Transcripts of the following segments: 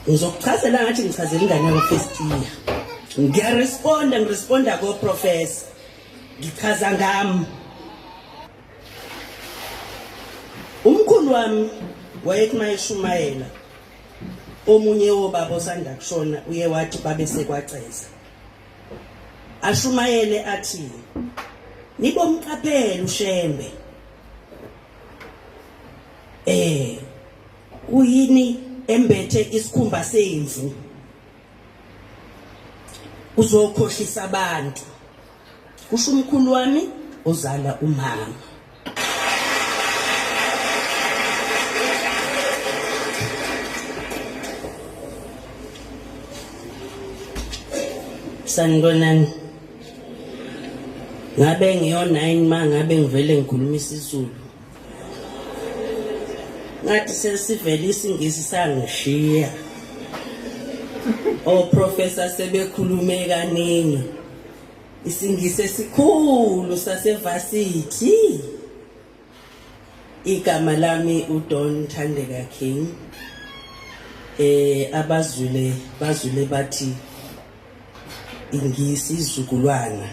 ngizokuchazela ngathi ngichazela ingane yami first year ngiyaresponda ngiresponda ko professor ngichaza ngami umkhulu wami wayethi mayeshumayela omunye wobaba osanda kushona uye wathi babe sekwaceza ashumayele athi nibomqaphela ushembe eh Kuyini embethe isikhumba semvu? Uzokhohlisa abantu. Kusho umkhulu wami ozala umama. sanibonani ngabe ngiyo-nine ma ngabe ngivele ngikhuluma isizulu ngathi sesivele isingisi sangishiya oprofessor sebekhulume kaningi isingisi esikhulu sasevasithi igama lami udon thandeka king eh abazwile bazwile bathi ingisi izukulwana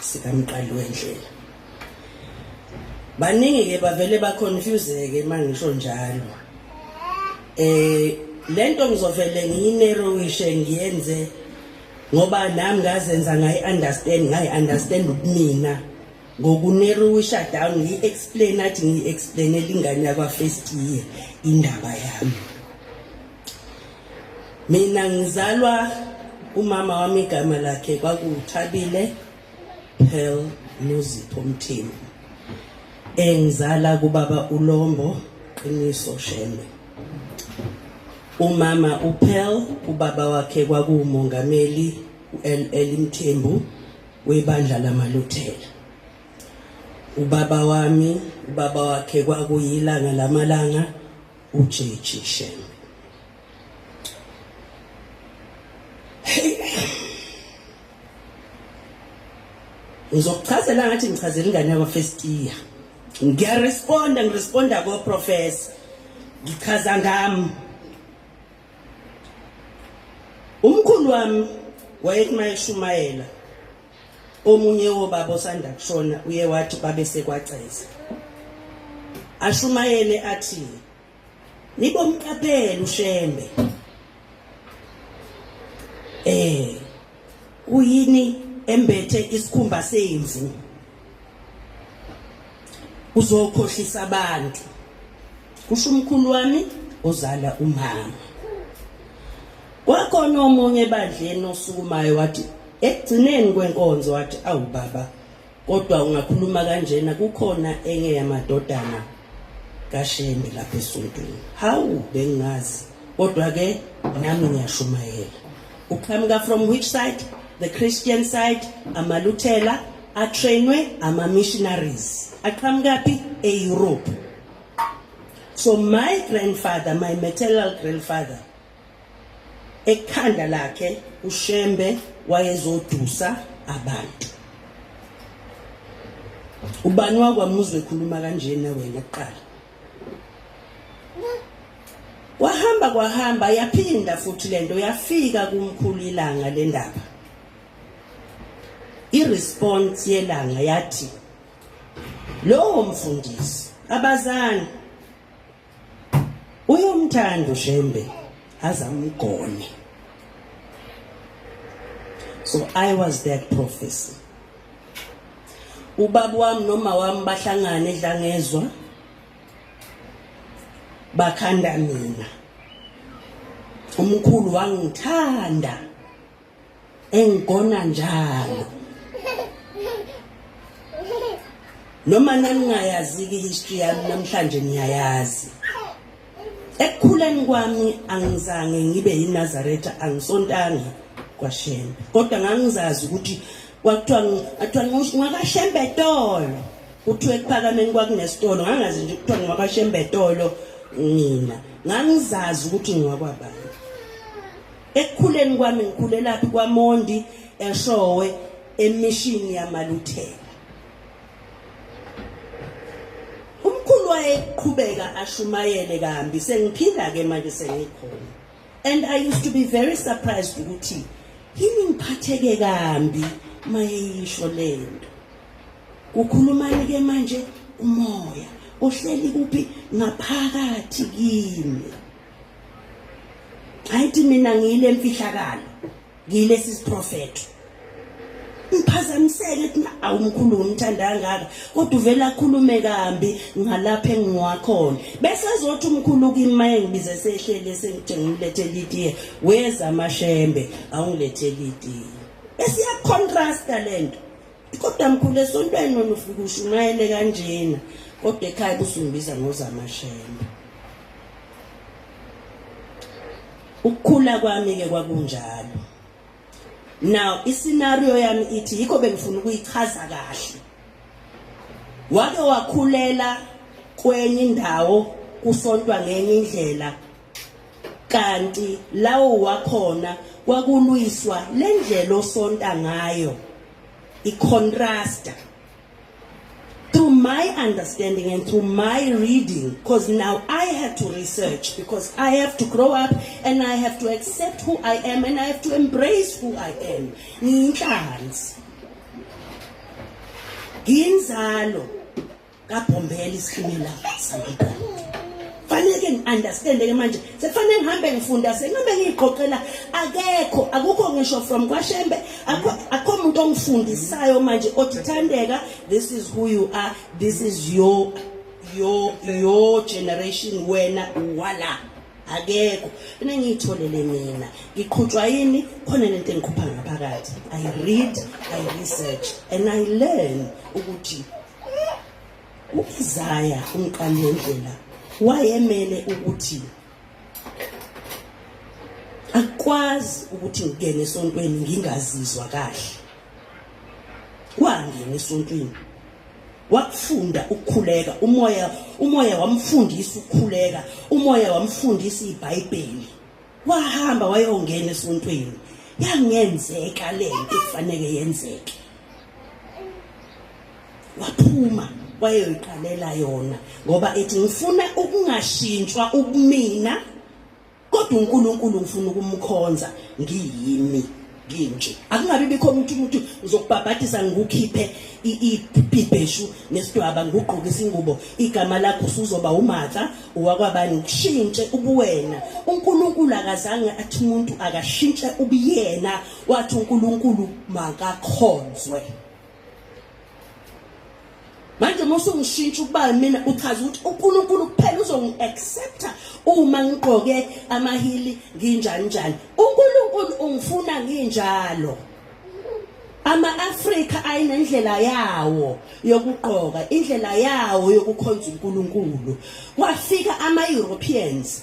sikamqali wendlela baningi ke bavele baconfuseke uma ngisho njalo eh lento ngizovele ngiyinerowishe ngiyenze ngoba nami ngazenza ngayi understand ngayi understand ubumina ngokunerowisha down ngiyi explain athi ngiyi explainela ingane yakwa first year indaba yami mina ngizalwa umama wami igama lakhe kwakuwuthabile Pearl Nozipho Mthembu engizala kubaba uLombo Qiniso Shembe umama uPearl ubaba wakhe kwakuwumongameli uLL Mthembu webandla lamaLuthela ubaba wami ubaba wakhe kwakuyilanga lamalanga uJeji shame ngizokuchazela ngathi ngichazela ingane yakwa first year ngiyaresponda ngiresponda ko professor ngichaza ngami umkhulu wami wayekumayeshumayela Omunye wobaba osanda kushona uye wathi babe sekwaceza. Ashumayele athi nibomqaphela uShembe. Eh uyini embethe isikhumba semvu uzokhohlisa abantu kusho umkhulu wami ozala umama kwakhona omunye ebandleni osukumayo wathi ekugcineni kwenkonzo wathi awu baba kodwa ungakhuluma kanjena kukhona enye yamadodana kashembe lapha esontweni hawu bengingazi kodwa ke nami ngiyashumayela uqhamuka from which side the christian side amaluthela atrainwe ama-missionaries aqhamukaphi e-europe so my grandfather my maternal grandfather ekhanda lakhe ushembe wayezodusa abantu ubani wakwamuzwe khuluma kanjena wena kuqala wahamba kwahamba yaphinda futhi lento yafika kumkhulu ilanga lendaba iresponse yelanga yathi lowo mfundisi abazani uyomthanda ushembe azamgone so i was that prophecy ubaba wami noma wami bahlangane edlangezwa bakhanda mina umkhulu wangithanda engigona njalo noma naningayaziki history yami namhlanje niyayazi ekukhuleni kwami angizange ngibe yinazaretha angisontanga kwashembe kodwa ngangizazi ukuthi kwakuthiwa athiwa ngakashembe tolo kuthiwa ekuphakameni kwakunesitolo ngangazi nje kuthiwa ngakashembe tolo mina ngangizazi ukuthi ngwakwabani Ekukhuleni kwami ngikhulelaphi kwaMondi eShowe emishini yamaluthela. Umkhulu wayeqhubeka ashumayele kambi sengiphila ke manje sengikhona. And I used to be very surprised ukuthi yini ngiphatheke kambi mayeyisho lento. Kukhulumani ke manje umoya ohleli kuphi ngaphakathi kimi. ayithi mina ngiyile mfihlakalo ngiyile sisiprofeto ngiphazamiseke ukuthi awumkhulu ngimthanda kangaka kodwa uvela akhulume kambi ngalapha engiwakhona bese ezothi umkhulu kimi maye ngibize sehlele sengithi ngilethe litiye weza amashembe awungilethe litiye esiyakucontrasta lento kodwa mkhulu esontweni nona ufike ushumayele kanjena kodwa ekhaya kusungibiza ngozamashembe ukukhula kwami ke kwakunjalo now iscenario yami ithi yikho bengifuna ukuyichaza kahle wake wakhulela kwenye indawo kusontwa ngenye indlela kanti lawo wakhona kwakulwiswa le ndlela osonta ngayo i-contrasta through my understanding and through my reading because now I had to research because I have to grow up and I have to accept who I am and I have to embrace who I am ngiyinhlanzi nginzalo kabhombela isikimela sangiqala faneke ngi-understande ke manje sekufanele ngihambe ngifunda sengihambe ngiyiqoqela akekho akukho ngisho from kwashembe akho muntu ongifundisayo manje othi thandeka this is who you are this is your your your generation wena wala akekho enengiyitholele mina ngiqhutshwa yini khona lento engikhupha ngaphakathi i read i research and i learn ukuthi U-Isaya umqalendlela wayemele ukuthi akwazi ukuthi ngingene esontweni ngingazizwa kahle wangena esontweni wakufunda ukukhuleka umoya umoya wamfundisa ukukhuleka umoya wamfundisa iBhayibheli wahamba wayongena esontweni yangenzeka le nto kufanele yenzeke waphuma wayoyiqalela yona ngoba ethi ngifuna ukungashintshwa ubumina kodwa uNkulunkulu ngifuna ukumkhonza ngiyimi nginje akungabi bikho umuntu umuntu uzokubhabhadisa ngikukhiphe ibheshu nesidwaba ngigqoke isingubo igama lakho usuzoba umatha uwakwabani ukushintshe ubuwena uNkulunkulu akazange athi umuntu akashintshe ubuyena wathi uNkulunkulu makakhonzwe manje uma usungishintsha ukuba mina uchaza ukuthi uNkulunkulu kuphela uzongi-accepta uma ngigqoke amahili nginjani njani uNkulunkulu ungifuna nginjalo ama-afrika ayinendlela yawo yokugqoka indlela yawo yokukhonza unkulunkulu kwafika ama-europeans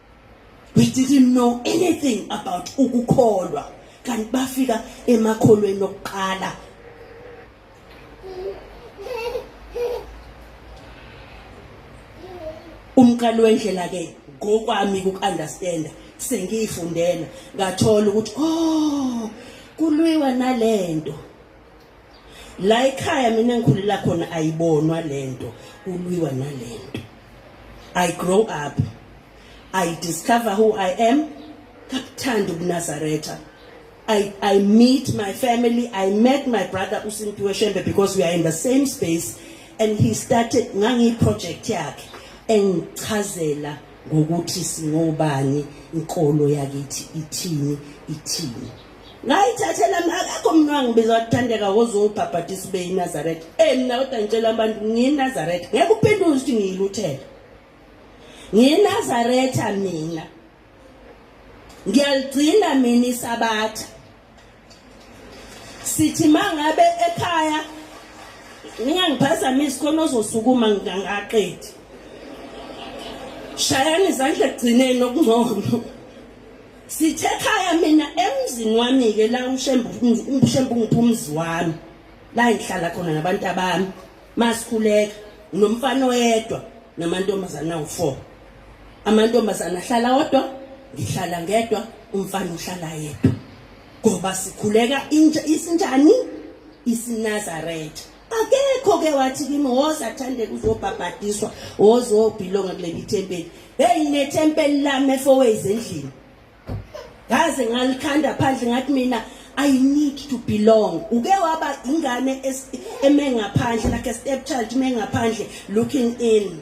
we didn't know anything about ukukholwa kanti bafika emakholweni okuqala umqali wendlela ke ngokwami ukuunderstand sengiyifundela ngathola ukuthi oh kulwiwa nalento la ekhaya mina ngikhulela khona ayibonwa lento kulwiwa nalento i grow up i discover who i am kabuthanda ubunazaretha I, I meet my family. I met my brother Usimpiwe Shembe because we are in the same space and he started ngangi project yakhe engichazela ngokuthi singobani inkolo yakithi ithini ithini ngayithathela akakho mntu wangibiza wathandeka woze ungibhabhatisa ube yinazaretha e mna kodwa ngitshela abantu ngiyinazaretha ngeke uphenduke ukuthi ngiyiluthela ngiyinazaretha mina ngiyaligcina mina isabatha sithi ma ngabe ekhaya ningangiphazamisi khona ozosukuma ngingangaqedi shayani izandla ekugcineni okungcono Sithe khaya mina emzini wami ke la ushembu ushembu ngiphumzi wami la ngihlala khona nabantu abami masikhuleka nomfana oyedwa namantombazana u4 amantombazana ahlala odwa ngihlala ngedwa umfana uhlala yedwa ngoba sikhuleka intsha isinjani isinazaretha akekho ke wathi kimi woza athande kuzobhabhadiswa woza obhilonga kuleli thempeli heyi nethempeli lami efowezi endlini ngaze ngalikhanda phandle ngathi mina I need to belong uke waba ingane eme ngaphandle like a stepchild eme ngaphandle looking in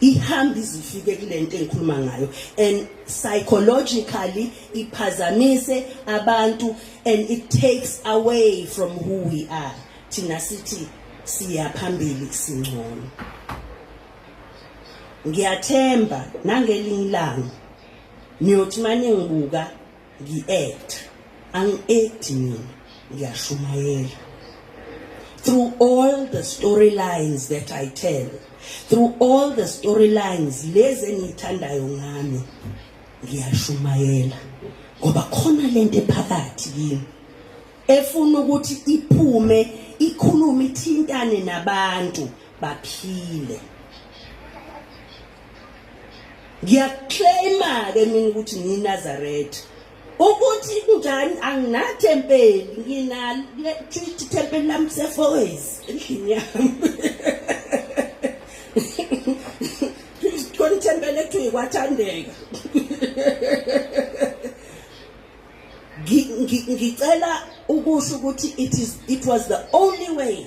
ihamba izifike kule nto engikhuluma ngayo and psychologically iphazamise abantu and it takes away from who we are thina sithi siya phambili singcono ngiyathemba nangelinye ilanga niyothi mane ngibuka ngi-act angi-acti mina ngiyashumayela through all the storylines that i tell through all the storylines lezi engiyithandayo ngami ngiyashumayela ngoba khona lento ephakathi kimi efuna ukuthi iphume ikhulume ithintane nabantu baphile ngiyaclaima-ke mina ukuthi ngiyinazaretha ukuthi kunjani anginatempeli nginalithi tempeli lami sefoes endlini yami khona ithempeli ekuthiwa yikwathandeka ngicela ukusho ukuthi it, is, it was the only way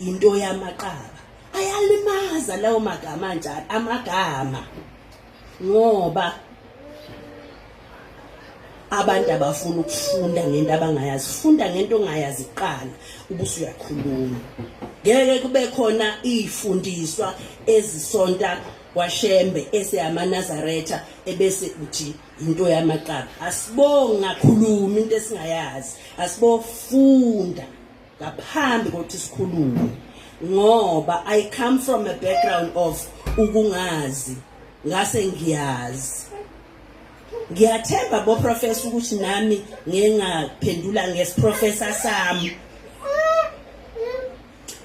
into yamaqaba ayalimaza lawo magama njalo amagama ngoba abantu abafuna ukufunda ngento abangayazi funda ngento ongayazi kuqala ubuso uyakhuluma ngeke kube khona izifundiswa ezisonta kwashembe eseyamanazaretha ebese uthi into yamaqaba asibongi ngakhuluma into esingayazi asibofunda ngaphambi kokuthi sikhulume ngoba i come from a background of ukungazi ngase ngiyazi ngiyathemba bo professor ukuthi nami ngengaphendula ngesiprofessor sami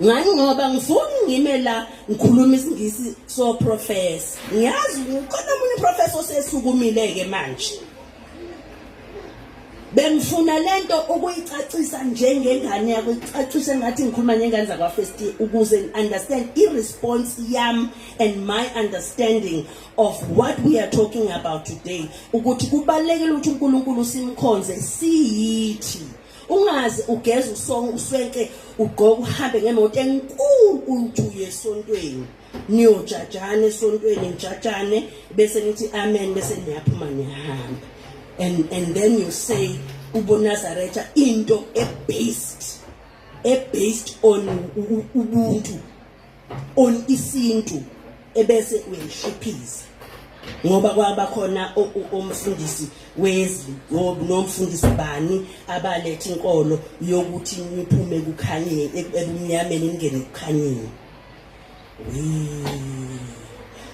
ngani ngoba ngifuni ngime la ngikhuluma isingisi so professor ngiyazi ukhona umunye professor osesukumile ke manje bengifuna lento ukuyicacisa njengengane yakho icacise ngathi ngikhuluma nengane zakwa first ukuze understand i response yam and my understanding of what we are talking about today ukuthi kubalekile ukuthi uNkulunkulu simkhonze siyithi ungaze ugeze usonke uswenke ugqoke uhambe ngemoto enkulu uthi uyesontweni niyojajana esontweni nijajane bese nithi amen bese niyaphuma niyahamba and and then you say ubonazaretha into ebased ebased on ubuntu on isintu ebese uyayishiphiza ngoba kwaba khona umfundisi wezwi nomfundisi bani abalethe inkolo yokuthi niphume kukhanyeni ebumnyameni ningene kukhanyeni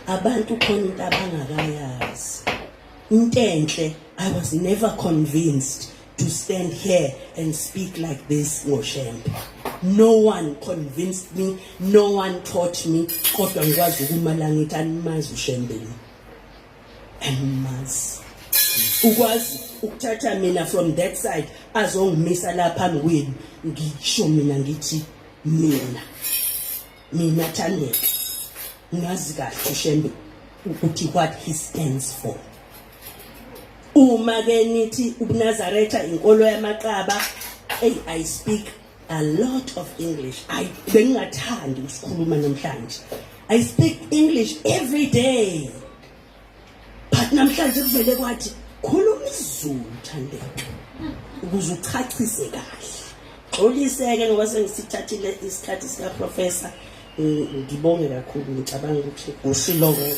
abantu khona into abangakayazi intenhle i was never convinced to stand here and speak like this ngoshembe no one convinced me no one taught me kodwa ngikwazi ukumala ngithi animazi ushembeni animazi ukwazi ukuthatha mina from that side azongimisa la phambi kwenu ngisho mina ngithi mina mina Thandeka ngazi kahle uShembe ukuthi what he stands for uma ke nithi ubunazaretha inkolo yamaqaba hey i speak a lot of english i bengingathandi ukusikhuluma namhlanje i speak english every day but namhlanje kuvele kwathi khuluma izulu thandeka ukuze uchachise kahle xoliseke ngoba sengisithathile isikhathi sikaprofesa ngibonge kakhulu ngicabanga ukuthi ushilo kuyo